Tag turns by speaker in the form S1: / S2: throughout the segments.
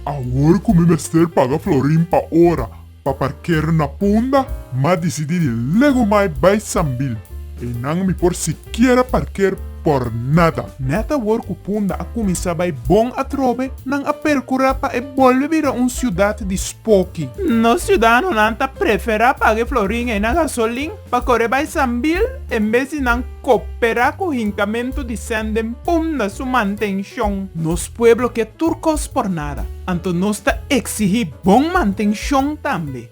S1: Awor ku mi mester paga florin pa ora pa parkera na Punda, m'a disidi di lego mai bai Sambil. E nan mi por sikiera parker por nada. Net awor ku Punda a kuminsá bai bon atrobe, nan a perkurá pa e bolbe bira un siudat di spoki. Nos siudadanonan ta preferá paga e florin ei na gasolin pa kore bai Sambil en bes di nan koperá ku hinkamentu di sen den Punda su mantenshon. Nos pueblo ke tur kos por nada, anto nos ta eksigí bon mantenshon tambe.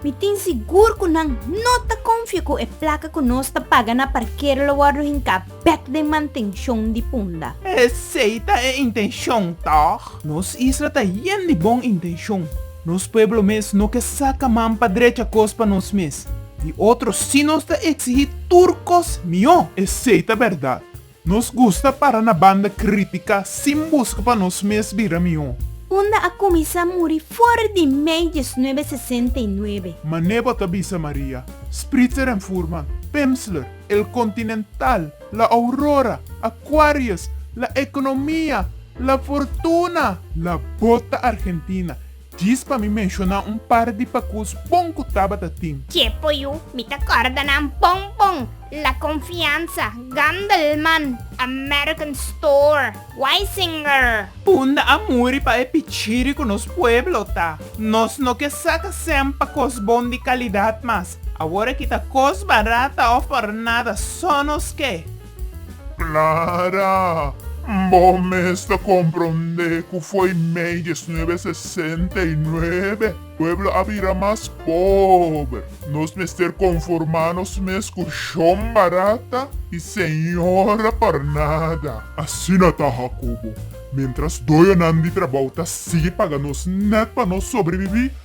S1: Mi tin sigur ku nan no ta konfia ku e plaka ku nos ta paga na parkero lo wòrdu hinká bèk den mantenshon di punda. Esei ta e intenshon, tòg? Nos isla ta yen di bon intenshon. Nos pueblo mes no ke saka man pa drecha kos pa nos mes. Di otro si nos ta eksigí tur kos mihó. Esei ta bèrdat. Nos gusta para na banda crítica sin busca pa nos mes bira mihó. Unda a cuminsa muri for di mei diesnuebe sesenta i nuebe. Ma Nebo ta bisa Maria, Spritzer en Furman, Pimsleur, El Continental, La Aurora, Aquarius, La Economia, La Fortuna, La Bota Argentina, Djis pa mi menshona un par di pakus bon ku Tabata tin. Ke po yu mi ta kòrda nan bon bon, La Confianza, Gandelman, American Store, Weisinger. Unda a muri pa e pichiri ku nos pueblo ta. Nos no ke saka sèn pa kos bon di kalidat mas. Awor aki ta kos barata òf pòrnada, sò nos ke. Clara, Bo mes ta compronde cu fo'i mei diesnuebe sesenta y nuebe pueblo a bira mas pober. Nos mester conforma nos mes cu shon barata y señora por nada. Asina ta, Jacobo. Mientras doyonan di trabao ta sigui paga nos net pa nos sobrevivi,